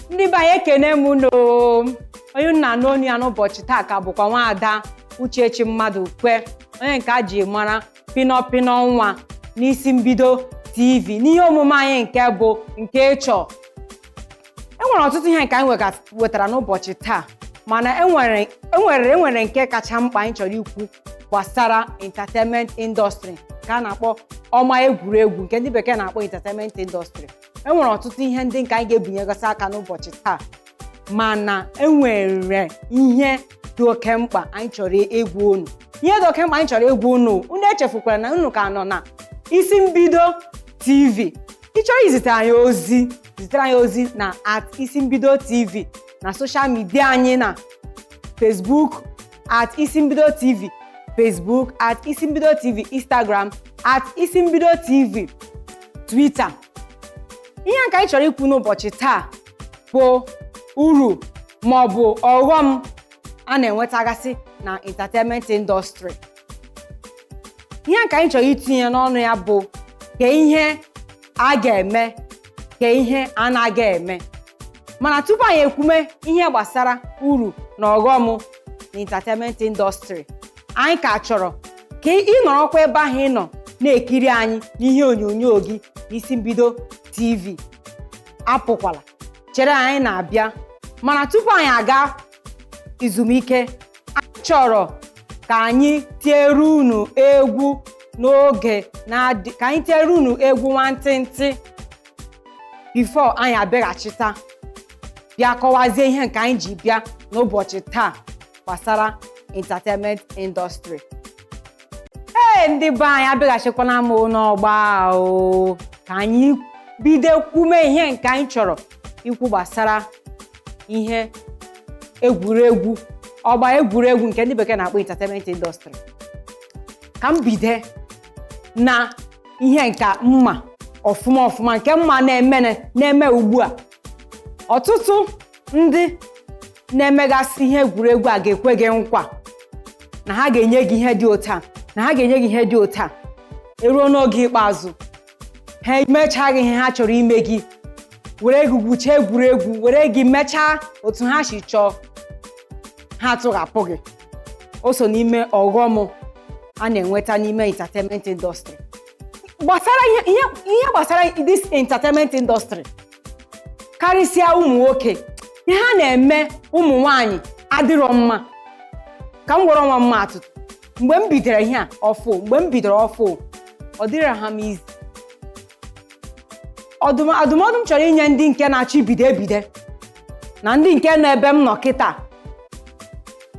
ndị be anyị ekene m unu o. onye unu na-anụ onu ya n'ụbọchị taa ka bụkwa nwaada uchechi mmadụkwe onye nke a ji mara pinọpinọ nwa n'isi mbido tv n'ihe omume anyị nke bụ nke ị chọ e nwere ọtụtụ ihe nke anyị wega- wetara n'ụbọchị taa mana enwere enwere enwere nke kacha mkpa anyị chọrọ ikwu gbasara entertainment industry nke a na-akpọ ọgba egwuregwu nke ndị bekee na-akpọ entertainment industry e nwere ọtụtụ ihe ndị nke anyị ga-ebinyegasị aka n'ụbọchị taa mana e nwere ihe dị oke mkpa anyị chọrọ ịgwa unu ihe dị oke mkpa anyị chọrọ ịgwa unu unu echefukwara na unu ka nọ na isi mbido tv ị chọrọ izitere anyị ozi zitere anyị ozi na at isi mbido tv na social media anyị na facebook at isimbido tv facebook at isimbido tv instagram at isimbido tv twitter ihe nke anyị chọrọ ikwu n'ụbọchị taa bụ uru ma ọ bụ ọghọm a na-enwetagasị na entertainment industry ihe nke anyị chọrọ itinye n'ọnụ ya bụ ka ihe a ga-eme ka ihe anaghị eme mana tupu anyị ekwume ihe gbasara uru na ọghọm na entertainment industry anyị ka chọrọ ka ị nọrọkwa ebe ahụ ị nọ na-ekiri anyị n'ihe onyonyo gị n'isi mbido tv apụkwala chere anyị na-abịa mana tupu anyị aga izumike anyị chọrọ ka anyị tiere unu egwu n'oge na-adị ka anyị tiere unu egwu nwantịntị before anyị abịaghachita bịa kọwazie ihe nke anyị ji bịa n'ụbọchị taa gbasara entertainment industry ee ndị be anyị abịaghachikwana m n'ọgba o ka anyị bido kwume ihe nke anyị chọrọ ikwu gbasara ihe egwuregwu ọgba egwuregwu nke ndị bekee na-akpọ entertainment industry ka m bide na ihe nke m ma ọfụma ọfụma nke m ma na-eme na-eme ugbu a ọtụtụ ndị na-emegasị ihe egwuregwu a ga-ekwe gị nkwa na ha ga-enye gị ihe dị otu a na ha ga-enye gị ihe dị otu a eruo n'oge ikpeazụ ha emechaa gị ihe ha chọrọ ime gị were gị gwuchaa egwuregwu were gị mechaa otu ha si chọọ ha tụghapụ gị o so n'ime ọghọm a na-enweta n'ime entertainment industry gbasara ihe ihe- ihe gbasara this entertainment industry karịsịa ụmụ nwoke ihe ha na-eme ụmụ nwanyị adịrọ mma ka m were onwe m maa atụ mgbe m bidoro ihe a ọfụ mgbe m bidoro ọfụ ọ dịrị ha m easy Ọdụm- adụmọdụ m chọrọ inye ndị nke na-achọ ibido ebido na ndị nke nọ ebe m nọ kịta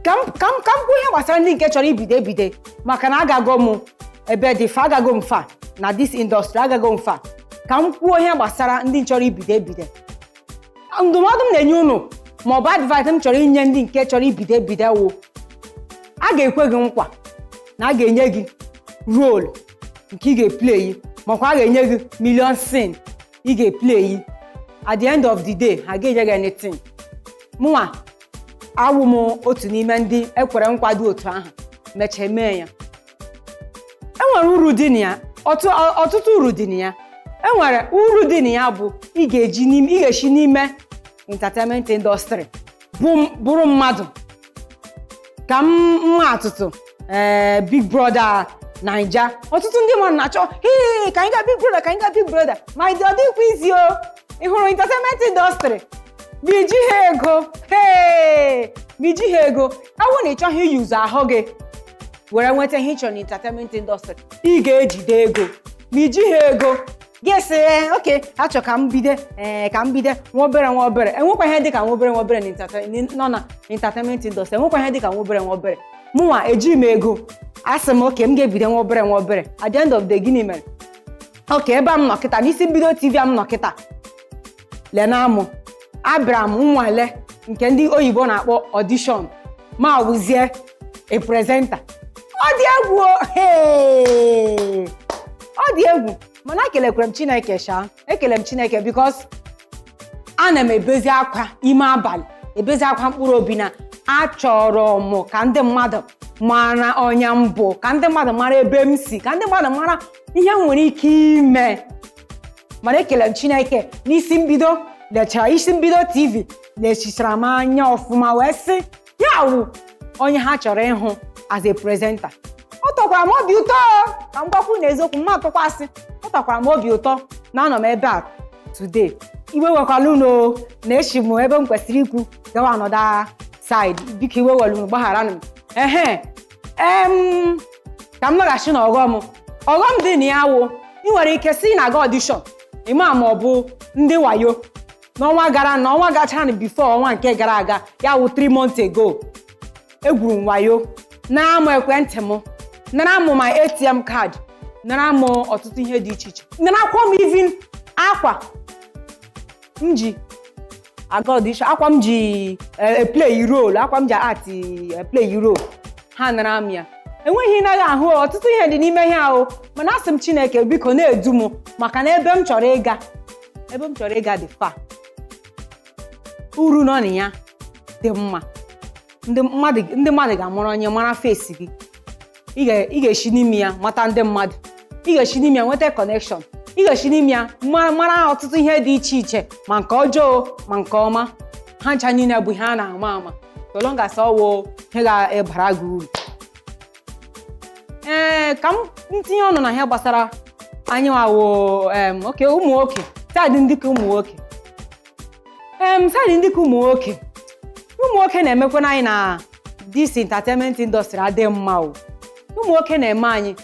ka m ka m ka m kwuo ihe gbasara ndị nke chọrọ ibido ebido maka na agago m ebe dị far agago m far na this industry agago m far ka m kwuo ihe gbasara ndị chọrọ ibido ebido ndụmọdụ m na-enye unu ma ọ bụ advice m chọrọ inye ndị nke chọrọ ibido ebido wụ a ga-ekwe gị nkwa na a ga-enye gị role nke ị ga-eplay makwa a ga-enye gị million scene ị ga-eplay at the end of the day ha ga-enye gị anything mụnwa awụ m otu n'ime ndị ekwere nkwa dị otu ahụ mechaa mee ya enwere uru dị na ya ọtụ- ọ- ọtụtụ uru dị na ya enwere uru dị na ya bụ ị ga-eji n'ime ị ga-esi n'ime entertainment industry bụ- bụrụ mmadụ ka m maa atụtụ ee big brother naija ọtụtụ ndị mmadụ na-achọ "Hee, ka anyị gaa big brother ka anyị gaa big brother mana ọ dịkwa easy o ị hụrụ entertainment industry ma iji ha ego hee ma iji ha ego awụ na ị chọghị iyuzu ahụ gị were nweta ihe ị chọrọ n'entertainment industry ị ga-ejide ego ma iji ha ego ga-asị okay achọ ka m bido ee ka m bido nwa obere nwa obere enwekwa ihe dịka nwa obere nwa obere nọ na entertainment industry enwekwa ihe dịka nwa obere nwa obere mụnwa ejighị m ego asị m okay m ga-ebido nwa obere nwa obere at the end of the gịnị mere okay ebe a m nọ kịta n'isi mbido tv a m nọ kịta lee na mụ abịara m nnwale nke ndị oyibo na-akpọ audition ma wụzie a presenter ọ dị egwu o! Hey! ọ dị egwu mana ekelekwere m chineke sha ekele m chineke because ana m ebezi akwa ime abalị ebezi akwa mkpụrụ obi na achọrọ m ka ndị mmadụ mara onye m bụ ka ndị mmadụ mara ebe m si ka ndị mmadụ mara ihe m nwere ike ime mana ekele m chineke na isi mbido lechara isi mbido tv lechichara m anya ọfụma wee sị ya wụ onye ha chọrọ ịhụ as a presenter ọ tọkwara m obi ụtọ ka m gwakwa unu eziokwu m ma atụkwa asị ọ tọkwara m obi ụtọ na anọ m ebe a today iwe ewekwala unu na esi m ebe m kwesịrị ikwu gawa another side biko iwe ewela unu gbagharanụ m ehe em ka m laghachi na ọghọm ọghọm dị na ya wụ ị nwere ike si na-aga audition ị ma ma ọ bụ ndị wayo n'ọnwa gara na ọnwa gachara na before ọnwa nke gara aga ya wụ 3 months ago egwuru m wayo nara m ekwentị m nara m my atm card nara m ọtụtụ ihe dị iche iche narakwa m even akwa m ji aga audition akwa m ji play role akwa m ji act play role ha nara m ya enweghị naghị ahụ ọtụtụ ihe dị n'ime ihe ahụ mana asị m chineke biko na-edu m maka na ebe m chọrọ ịga ebe m chọrọ ịga dị far uru nọ na ya dị mma ndị mmadụ ndị mmadụ ga-amụrụ onye mara face gị ị ga- ị ga-esi n'ime ya mata ndị mmadụ ị ga-esi n'ime ya nweta connection ị ga-esi n'ime ya mara mara ọtụtụ ihe dị iche iche ma nke ọjọọ ma nke ọma ha ncha niile bụ ihe a na-ama ama so long as ọ wụ ihe ga-ebara gị uru ee ka m m tinye ọnụ na ihe gbasara anyị nwa wụ em okay ụmụ nwoke side ndị ka ụmụ nwoke em side ndị ka ụmụ nwoke ụmụ nwoke na-emekwana anyị na this entertainment industry adị mma o ụmụ nwoke na-eme anyị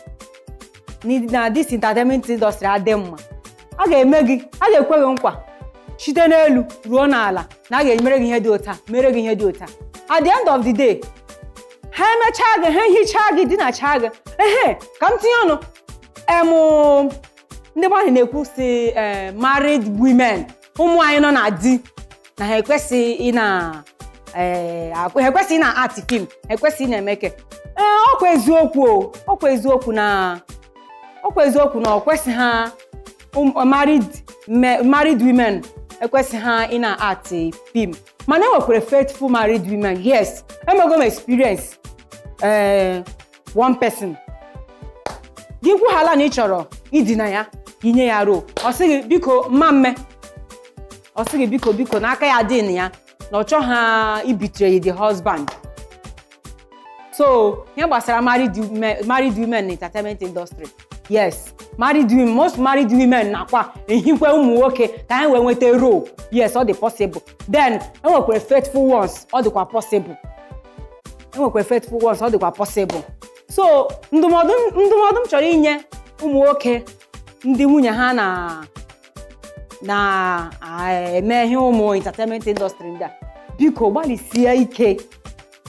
ni- na this entertainment industry adị mma a ga-eme gị a ga-ekwe gị nkwa site n'elu ruo n'ala na a ga-emere gị ihe dị otu a mere gị ihe dị otu a at the end of the day ha emechaa gị ha hichaa gị dinachaa gị ehe ka m tinye ọnụ em ndị mmadụ na-ekwu sị eh, married women ụmụ nwanyị nọ na di na ha ekwesịghị ị na eh, akwa- ha ekwesịghị na-act film ha ekwesịghị na-emeke ee ọkwa eziokwu o ọkwa eziokwu na ọkwa eziokwu na o kwesịha ụm- married me- married women ekwesịha ị na-act film mana enwekwara faithful married women yes emego m experience ee one person gị kwuhala na ị chọrọ idina ya inye ya role ọ sị gị biko mma mme ọ sị gị biko biko na aka ya dị na ya na ọ chọghị ịbetray the husband so ihe gbasara married women married women na entertainment industry yes married women most married women nakwa ehikwe ụmụ nwoke ka ha wee nweta role yes ọ dị possible then enwekwara faithful ones ọ dịkwa possible enwekwara faithful ones ọ dịkwa possible so ndụmọdụ ndụmọdụ m chọrọ inye ụmụ nwoke ndị nwunye ha na na-eme ihe ụmụ entertainment industry ndị a biko gbalịsie ike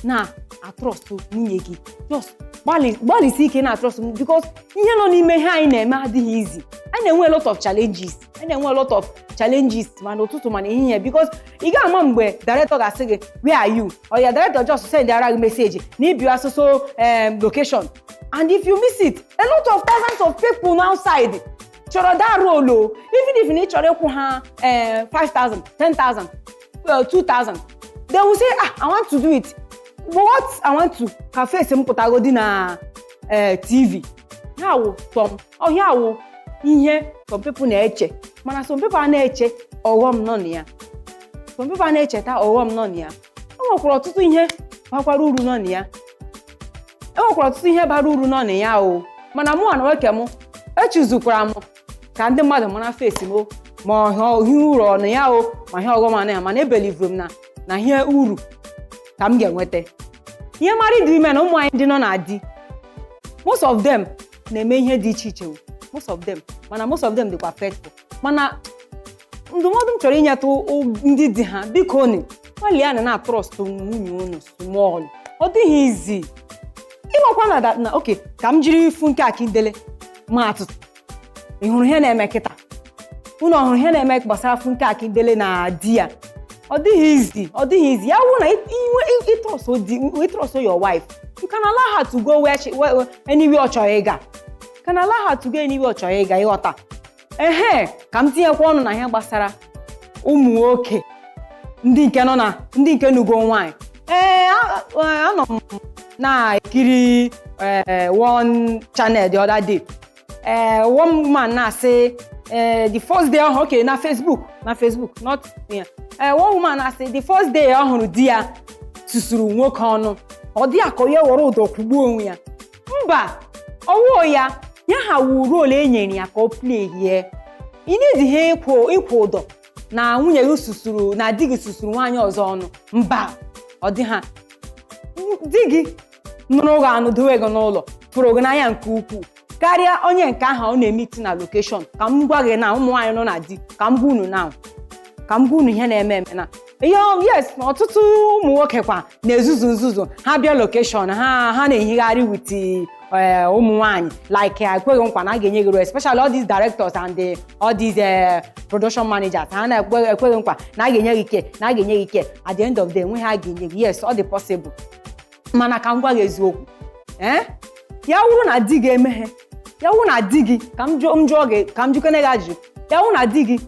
na-atrust nwunye gị just gbalị- gbalịsi ike na-atrust m because ihe nọ n'ime ihe anyị na-eme adịghị easy anyị na-enwe a lot of challenges anyị na-enwe a lot of challenges ma n'ụtụtụ ma n'ehihie because ị gaghị ama mgbe director ga-asị gị where are you or your director just sendara gị message na ị bịa so so em, location and if you miss it a lot of thousands of people nọ outside chọrọ that role even if na ị chọrọ ịkwụ ha eh, 5000 10000 well 2000 they will say ah i want to do it but what i want to ka face m pụtagodi na eh, tv ya wụ some ọ ihe a wụ ihe some people na-eche mana some people a na-eche ọghọm nọ na ya some people a na-echeta ọghọm nọ na ya e nwekwara ọtụtụ ihe bakwara uru nọ na ya e nwekwara ọtụtụ ihe bara uru nọ na ya o mana mụwa n'onwe ke m echezukwara m ka ndị mmadụ mara face m o ma ihe uru nọ na ya o ma ihe ọghọm nọ na ya mana ebelivuru m na na ihe uru ka m ga-enweta ihe married women ụmụ nwaanyị ndị nọ na di most of them na-eme ihe dị iche iche o most of them mana most of them dịkwa faithful mana ndụmọdụ m chọrọ inyetụ ndị di ha biko unu gbalịanụ na-atrọstụ nwunye unu small ọ dịghị easy ị makwa na that na okay ka m jiri funke akindele maa atụ ị hụrụ ihe na-eme kịta unu ọ hụrụ ihe na-eme gbasara funke akindele na di ya ọ dịghị easy ọ dịghị easy ya wụ na inwe ị trust di ị trust your wife you can allow her to go where she where- anywhere ọ chọrọ ịga You can allow her to go anywhere ọ chọrọ ịga ị ghọta ehe ka m tinyekwa ọnụ na ihe gbasara ụmụ nwoke ndị nke nọ na ndị nke nụgo nwaanyị ee a- a- anọ m na-ekiri ee, one channel the other day ee one woman na-asị ee, the first day ọ hụrụ okay na facebook na facebook not yeah ee one woman na-asị the first day ọ hụrụ di ya susuru nwoke ọnụ ọ dị ya ka ya were ụdọ kwụgbuo onwe ya mba ọ wụ ya ya aha wụ role e nyere ya ka ọ pleyie ị needighị ịkwụ ụdọ na nwunye gị susuru na di gị susuru nwaanyị ọzọ ọnụ mba ọ dị ha di gị nụrụ gị anụ dowe gị n'ụlọ fụrụ gị n'anya nke ukwuu karịa onye nke ahụ ọ na-emiti na location ka m gwa gị na ụmụ nwaanyị nọ na di ka m gwa unu na ka m gwa unu ihe na-eme eme na ihe ọ- yes ọtụtụ ụmụ nwoke kwa na-ezuzu nzuzu ha bịa location ha ha na-ehigharị with eh, ụmụ nwaanyị like eh, ekwe gị nkwa na a ga-enye gị role especially all these directors and the, all these eh, production managers ha na-ekwe ekwe gị nkwa na a ga-enye gị ike na a ga-enye gị ike at the end of the day enweghị ihe a ga-enye gị yes ọ dị possible mana ka m gwa gị eziokwu ee ya wụrụ na di gị emeghị ya wụrụ na di gị ka m jụọ m jụọ gị ka m jụkene gị ajụjụ ya wụrụ na di gị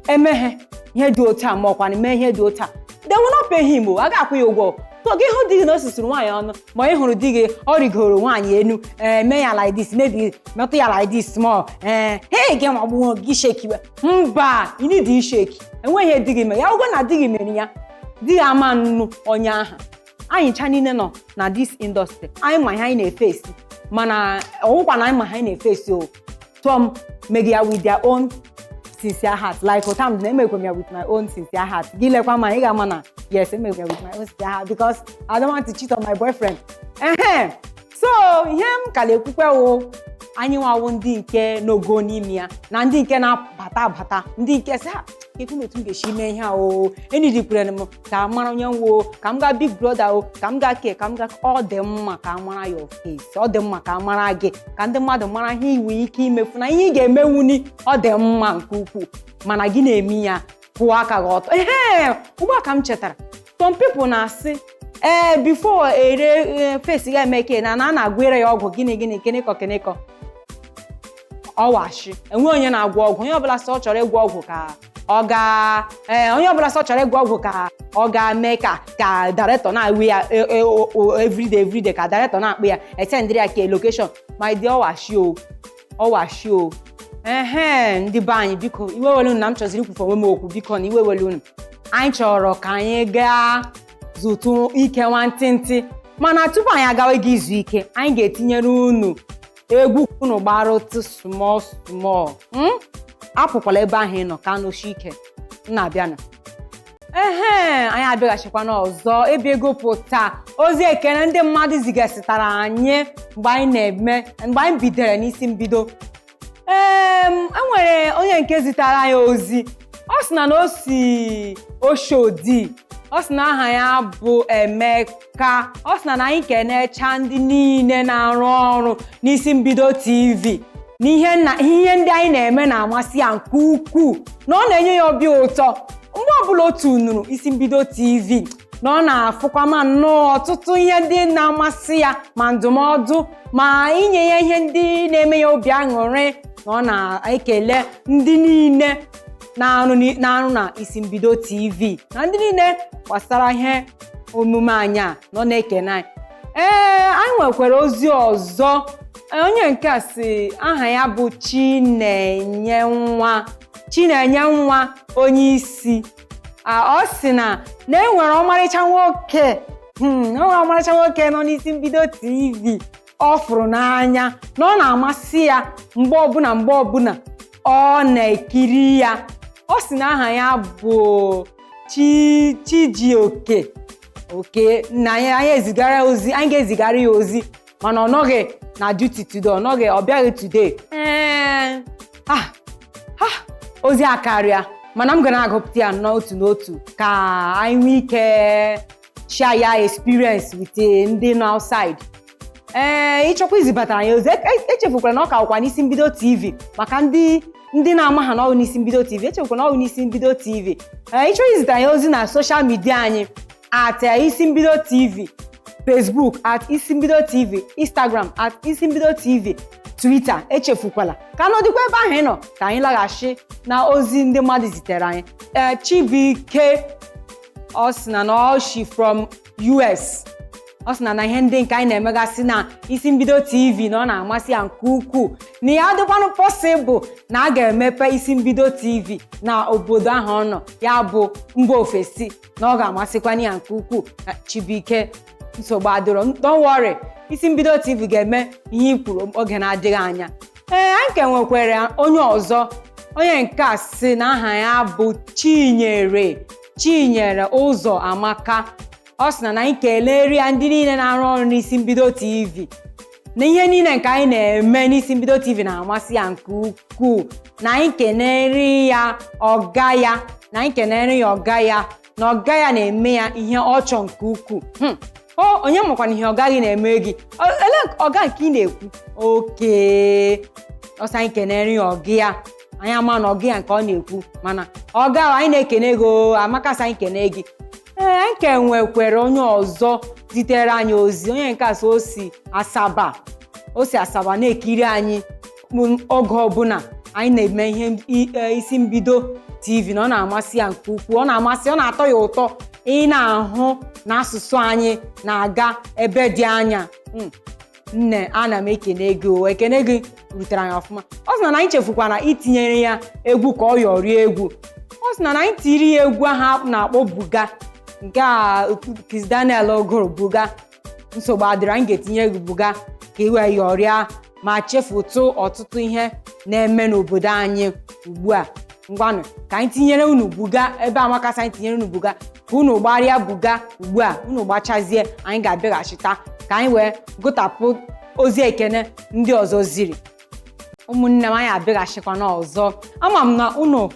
emeghị ihe dị otu a ma ọ kwanụ mee ihe dị otu a they will not pay him o a ga-akwụ ya ụgwọ so gị hụ di gị na o susuru nwaanyị ọnụ ma ị hụrụ di gị ọ rịgoro nwaanyị enu ee mee ya like this maybe metụ ya like this small ee hei gị ma gbuo gị shekiwe mba ị need isheki enweghị ihe di gị mere ya wụgo na di gị mere ya di gị ama nụ onye aha anyị ncha niile nọ na this industry anyị ma ihe anyị na-efesi mana ọ wụkwa na anyị ma ihe anyị na-efesi o tụọm megi ya with their own sincere heart like ota m na-emekwe m ya with my own sincere heart gị lekwa ma ị ga-ama na yes emekwe m ya with my own sincere heart because I don't want to cheat on my boyfriend ehe so ihe m ka na-ekwukwe wụ anyị nwa wụ ndị nke nọgo n'ime ya na ndị nke na-abata abata ndị nke sị "Ah, ekwu na otu m ga-esi mee ihe a o enidikwere m ka a mara onye m wụ ka m gaa big brother o ka m gaa ke ka m gaa ọ dị mma ka a mara your face ọ dị mma ka a mara gị ka ndị mmadụ mara ihe i nwe ike imefu na ihe ị ga-emewuni ọ dị mma nke ukwuu mana gị na-eme ya kwụọ aka gị ọtọ ehe ugbu a ka m chetara some people na-asị ee eh, before ere eh, face ya emeke na na na-agwere ya ọgwụ gịnị gịnị kenekọ kenekọ ọ wụ ashị enwe onye na-agwọ ọgwụ onye ọbụla sị ọ chọrọ ịgwọ ọgwụ ka ọ ga ee eh, onye ọbụla sị ọ chọrọ ịgwọ ọgwụ ka ọ ga-eme ka ka director na-ewe ya e, e, everyday everyday ka director na-akpụ ya etendịrị ya ka location my dear ọ wụ ashị o ọ wụ ashị o ehe ndị be anyị biko iwe ewele unu na m chọziri ikwufe onwe m okwu biko na iwe ewele unu anyị chọrọ ka anyị gaa zụtụ ike nwantịntị mana tupu anyị agawa ịga izu ike anyị ga-etinyere unu egwu ka unu gbaratụ small small apụkwala ebe ahụ ị nọ ka nọshie ike m na-abịanụ ehe anyị abịaghachikwana ọzọ ebe a ịgụpụta ozi ekene ndị mmadụ zigasịtara anyị mgbe anyị na-eme mgbe anyị bidere n'isi mbido ee enwere onye nke zitara anyị ozi ọ sị na na o si oshodi ọ sị na aha ya bụ emeka ka ọ sị na na anyị kenecha ndị niile na-arụ ọrụ n'isi mbido tv na ihe na ihe ndị anyị na-eme na-amasị ya nke ukwuu na ọ na-enye ya obi ụtọ mgbe ọbụla o tunuru isi mbido tv na ọ na-afụkwa ma nnọọ ọtụtụ ihe ndị na-amasị ya ma ndụmọdụ ma inye ya ihe ndị na-eme ya obi aṅụrị na ọ na-ekele ndị niile na-arụ ni- na-arụ na isi mbido tv na ndị niile gbasara ihe omume anyị a na ọ na-ekene anyị ee anyị nwekwara ozi ọzọ onye nke a sị aha ya bụ chinenye nwa chinenye nwa onye isi ọ sị na na enwere ọmarịcha nwoke hmm, enwere ọmarịcha nwoke nọ n'isi mbido tv ọ fụrụ n'anya na ọ na-amasị ya mgbe ọbụla mgbe ọbụla ọ na-ekiri ya ọ sị na aha ya bụ chi Chijioke oke na anyị anyị ezigara ya ozi anyị ga-ezigara ya ozi mana ọ nọghị na duty today ọ nọghị ọ bịaghị today ee ah ah ozi akarịa mana m ga na-agụpụta ya n'otu n'otu ka anyị nwee ike share ya experience with eh, ndị nọ outside ee ị chọkwa izibatara anyị ozi echefukwala na ọ ka wụkwa n'isi mbido tv maka ndị ndị na-amaha na ọ wụ n'isi mbido tv echefukwala na ọ wụ n'isi mbido tv ee ị chọrọ izite anyị ozi na social media anyị at eh, isi mbido tv facebook at isi mbido tv instagram at isi mbido tv twitter echefukwala ka nọdịkwa ebe ahụ ị nọ ka anyị laghachi na ozi ndị mmadụ zitere anyị ee chibuike ọ sị na na ọ shi from US ọ sị na na ihe ndị nke anyị na-emegasị na isi mbido tv na ọ na-amasị ya nke ukwuu na ya dịkwanụ possible na a ga-emepe isi mbido tv na obodo ahụ ọ nọ ya bụ mba ofesi na ọ ga-amasịkwanụ ya nke ukwuu chibuike nsogbu adịrọ don't worry isi mbido tv ga-eme ihe i kwuru oge na-adịghị anya ee anyị ka nwekwara onye ọzọ onye nke a sị na aha ya bụ chinyere Chinyere Ụzọamaka ọ sị na na anyị keleere ya ndị niile na-arụ ọrụ n'isi mbido TV na ihe niile nke anyị na-eme n'isi mbido TV na-amasị ya nke ukwuu na anyị kenere ya ọga ya na anyị kenere ya ọga ya na ọga ya na-eme ya ihe ọ chọọ nke ukwuu hmm. o onye makwana ihe ọga gị na-eme gị elee ọga nke ị na-ekwu okay ọ sị anyị kenere ya ọga ya anyị amana ọga ya nke ọ na-ekwu mana ọga anyị na-ekene gị oo Amaka sị anyị kene gị ee anyị ka nwekwere onye ọzọ zitere anyị ozi onye nke a sị o si asaba o si asaba na-ekiri anyị m- oge ọbụla anyị na-eme ihe m- i- e, isi mbido tv na ọ na-amasị ya nke ukwuu ọ na-amasị ọ na-atọ ya ụtọ ị na-ahụ na asụsụ anyị na-aga ebe dị anya Mm. nne ana m ekene gị o ekene gị rutere anyị ọfụma ọ sị na na anyị echefukwana itinyere ya egwu ka ọ yọrie egwu ọ sị na na anyị tiri ya egwu ahụ a na-akpọ buga nke a Kizz Daniel gụrụ buga nsogbu adịrọ anyị ga-etinyere gị buga ka i wee yọrịa ma chefutụ ọtụtụ ihe na-eme n'obodo anyị ugbu a ngwanụ ka anyị tinyere unu buga ebe Amaka sị anyị tinyere unu buga ka unu gbarịa buga ugbu a unu gbachazie anyị ga-abịaghachita ka anyị wee gụtapụ ozi ekene ndị ọzọ ziri ụmụnne m anyị abịaghachikwana ọzọ ama m na unu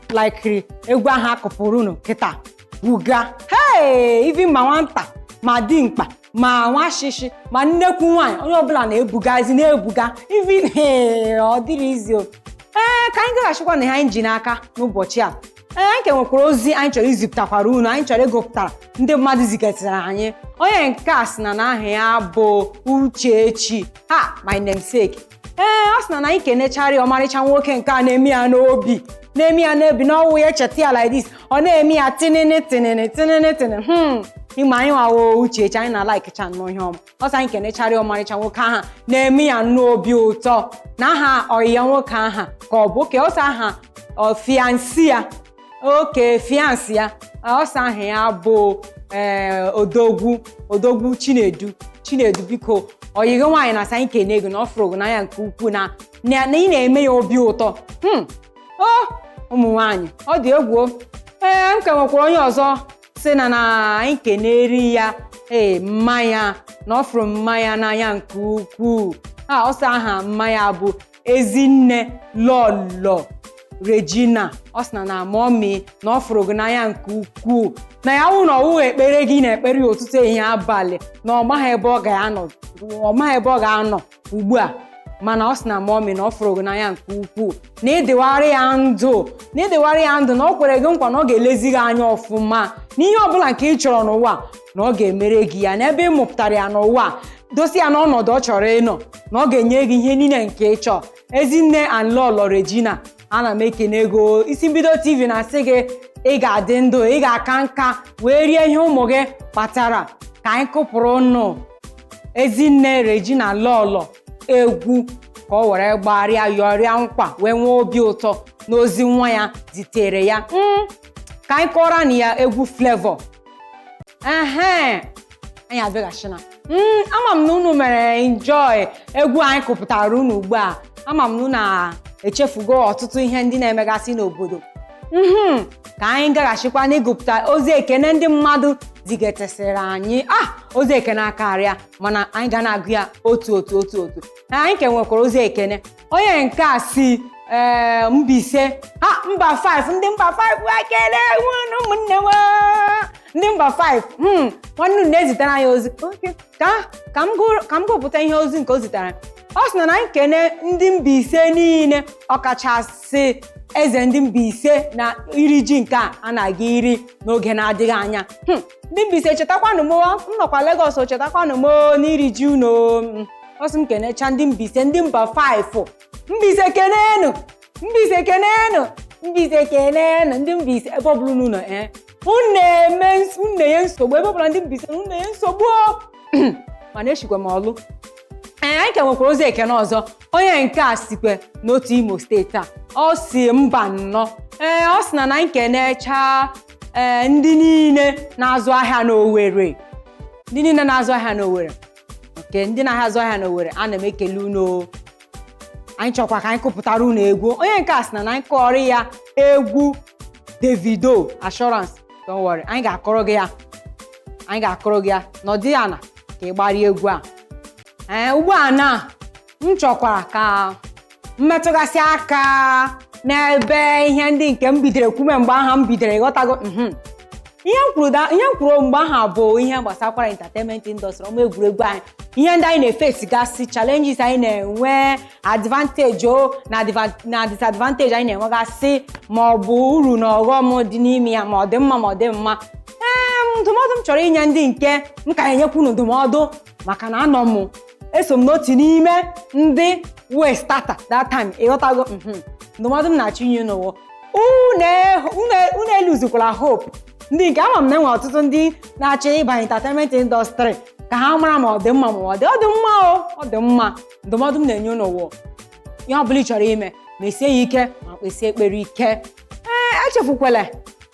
laikiri egwu ahụ a kụpụrụ unu kịta buga hee even ma nwata ma dimkpa ma nwa shishi ma nnekwu nwaanyị onye ọbụla na-ebugazi na-ebuga even ọ dịrọ easy ee ka anyị gaghachikwa na ihe anyị ji n'aka n'ụbọchị a ee anyị ka nwekwara ozi anyị chọrọ izipụtakwara unu anyị chọrọ ịgụpụtara ndị mmadụ zigatara anyị onye nke a sị na na aha ya bụ Uchechi ha my namesake ee ọ sị na na anyị kenechara ya ọmarịcha nwoke nke a na-eme ya n'obi na-eme ya n'obi na ọ wụ ya cheta ya like this ọ na-eme ya tinini tinini tinini tinini hmm ị ma anyị nwa wụ Uchechi anyị na-alikecha nnọọ ihe ọma ọ sị anyị kenechara ọmarịcha nwoke aha na-eme ya n'obi ụtọ na aha ọyị ya nwoke aha ka ọ bụ okay ọ sị aha fiancé ya okay fiancé ya ọ sị aha ya bụ ee odogwu odogwu chinedu chinedu biko ọyị gị nwaanyị na-asị anyị kene gị o na ọ fụrụ gị n'anya nke ukwuu na na ị na-eme ya obi ụtọ o ụmụ nwaanyị ọ dị egwu ee m ka nwekwara onye ọzọ sị na na anyị kenere ya ee mma ya na ọ fụrụ mma ya n'anya nke ukwuu a ọ sị aha mma ya bụ ezinne lọlọ regina ọ sị na na mummy na ọ fụrụ gị n'anya nke ukwuu na ya wụ na ọ wụghị ekpere gị na-ekpere ya ụtụtụ ehihie abalị na ọ maghị ebe ọ ga-anọ ọ maghị ebe ọ ga-anọ ugbu a mana ọ sị na mummy na ọ fụrụ gị n'anya nke ukwuu na ị dịwara ya ndụ na ị dịwara ya ndụ na ọ kwere gị nkwa na ọ ga-elezi gị anya ọfụma n'ihe ọbụla nke ị chọrọ n'ụwa na ọ ga-emere gị ya na ebe ị mụpụtara ya n'ụwa dosi ya n'ọnọdụ ọ chọrọ ịnọ na ọ ga-enye gị ihe niile nke ị chọọ ezinne and lọlọ Regina ana m ekene gị o isi mbido tv na-asị gị ị ga-adị ndụ ị ga-aka nka wee rie ihe ụmụ gị kpatara ka anyị kụpụrụ nụ ezinne regina lọlọ egwu ka o were gbarịa yọrịa nkwa wee nwee obi ụtọ n'ozi nwa ya zitere ya Mm, ka anyị kụọrọ nụ ya egwu Flavour ehe anyị abịaghachina Mm, ama m na unu mere enjoy egwu anyị kụpụtara unu ugbu a ama m na unu a- echefugo ọtụtụ ihe ndị na-emegasị n'obodo Mhm, ka anyị gaghachikwa n'ịgụpụta ozi ekene ndị mmadụ zigetesịrị anyị ah ozi ekene akarịa mana anyị ga na-agụ ya otu otu otu otu na anyị ka nwekwara ozi ekene onye nke a si ee Mbaise ha mba 5 ndị mba 5 wa kele unu ụmụnne m ndị mba 5 hmm nwanne unu na-ezitara anyị ozi Okay. ka ka m gụrụ- ka m gụpụta ihe ozi nke o zitara ọ sị na na m kene ndị Mbaise niile ọkachasị eze ndị Mbaise na iri ji nke a a na-aga iri n'oge na-adịghị anya Hmm. ndị Mbaise chetakwanụ m o, m nọkwa Legọs o chetakwanụ m o, n'iri ji unu o. Mm. ọ sị m kenecha ndị Mbaise ndị mba 5 Mbaise kenenụ Mbaise kenenụ Mbaise kenenụ ndị Mbaise ebe ọ bụla unu nọ ee unu na-eme ns- unu na-enye nsogbu ebe ọ bụla ndị Mbaise unu na-enye nsogbu o. mana eshikwe m Ọlụ ee anyị ka nwekwara ozi ekene ọzọ onye nke a sikwe n'otu imo steeti a ọ si Mbanọ ee ọ sị na na m kenechaa ee ndị niile na-azụ ahịa n'Owerri ndị niile na-azụ ahịa n'Owerri nke ndị na-azụ ahịa n'Owerri ana m ekele unu anyị chọkwara ka anyị kụpụtara unu egwu onye nke a sị na na anyị kụọrọ ya egwu Davido assurance don't worry anyị ga-akụrụ gị ya anyị ga-akụrụ gị ya na-adịghị anya ka ị gbarie egwu a ee ugbu a na m chọkwara ka m metụgasị aka n'ebe ihe ndị nke m bidoro kwume mgbe aha m bidoro ịghọtago mhm. ihe m kwuru da- ihe m kwuru mgbe aha bụ ihe gbasakwara entertainment industry ọma egwuregwu anyị ihe ndị anyị na-efacegasị challenges anyị na-enwe advantage o na adva- na disadvantage anyị na-enwegasị ma ọ bụ uru na ọghọm dị n'ime ya ma ọ dị mma ma ọ dị mma ee ndụmọdụ m chọrọ inye ndị nke m ka na-enyekwu unu ndụmọdụ maka na anọ m eso m n'otu n'ime ndị wee starta that time ịghọtago mhm. ndụmọdụ m na-achọ inye unu wụ unu elosekwala hope ndị nke ama m na enwe ọtụtụ ndị na-achọ ịbanye entertainment industry ka ha mara ma ọ dị mma ma ọ dị ọ dị mma o ọ dị mma ndụmọdụ m na-enye unu wụ ihe ọ bụla ị chọrọ ime mesie ya ike ma kpesie ekpere ike ee echefukwala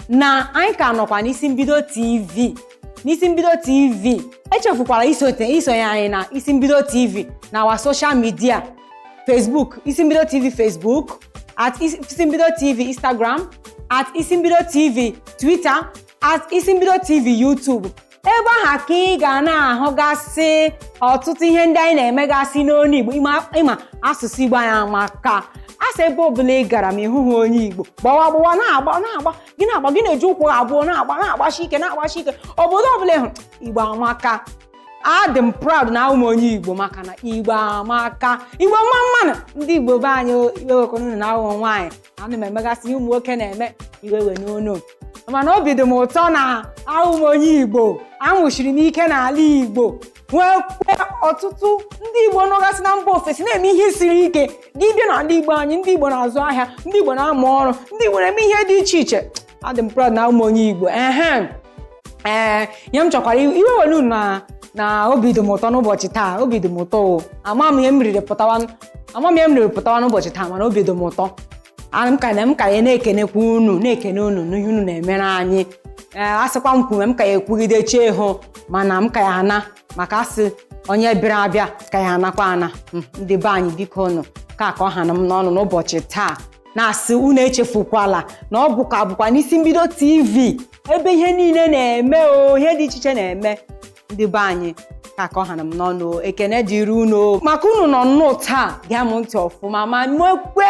na anyị ka nọkwa n'isi mbido tv n'isi mbido tv echefukwala isote isonye anyị na isi mbido tv na our social media facebook isi mbido tv facebook at Is- isi mbido tv instagram at isi mbido tv twitter at isi mbido tv youtube ebe aha ka ị ga na-ahụgasị ọtụtụ ihe ndị anyị na-emegasị n'olu Igbo ịma asụsụ Igbo anyị amaka a sị ebe ọbụla ị gara ma ị hụha onye Igbo gbawa gbawa na-agba na-agba gị na-agba gị na-eji ụkwụ abụọ na-agba na-agbashi ike na-agbashi ike obodo ọbụla ịhụ Igbo amaka adị m proud na awụ m onye igbo maka na igbo amaka igbo mma mma nụ ndị igbo be anyị iwe ewekwa unu na awụ m nwaanyị ana m emegasị ihe ụmụ nwoke na-eme iwe ewena unu mana obi dị m ụtọ na awụ m onye igbo awụsiri m ike n'ala igbo nwekwe ọtụtụ ndị igbo nọgasị na mba ofesi na-eme ihe siri ike gị bịa n'ala igbo anyị ndị igbo na-azụ ahịa ndị igbo na-amụ ọrụ ndị igbo na-eme ihe dị iche iche adị m proud na abụ m onye Igbo ehe ee ihe m chọkwara ịgwa unu na na obi dị m ụtọ n'ụbọchị taa obi dị m ụtọ o ama m ihe m riri pụtawa ama m ihe m riri pụtawa n'ụbọchị taa mana obi dị m ụtọ ana m ka na m ka ya na-ekenekwa unu na-ekene unu n'ihe unu na-emere anyị ee a sịkwa m kwume m ka ya ekwugide chi eho mana m ka ya ana maka asị onye bịara abịa ka ya anakwa ana Mm, ndị be anyị biko nụ ka ka ọ ha na m n'ọnụ n'ụbọchị taa na-asị unu echefukwala na ọ bụkwa abụkwa n'isi mbido TV ebe ihe niile na-eme o ihe dị iche iche na-eme ndị be anyị ka ka ọ ha na m n'ọnụ o, ekene dịrị unu o. maka unu nọ nnọọ taa gee m ntị ọfụma ma nwekwe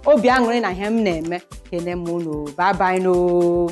obi aṅụrị na ihe m na-eme kene m unu bye bye nụ o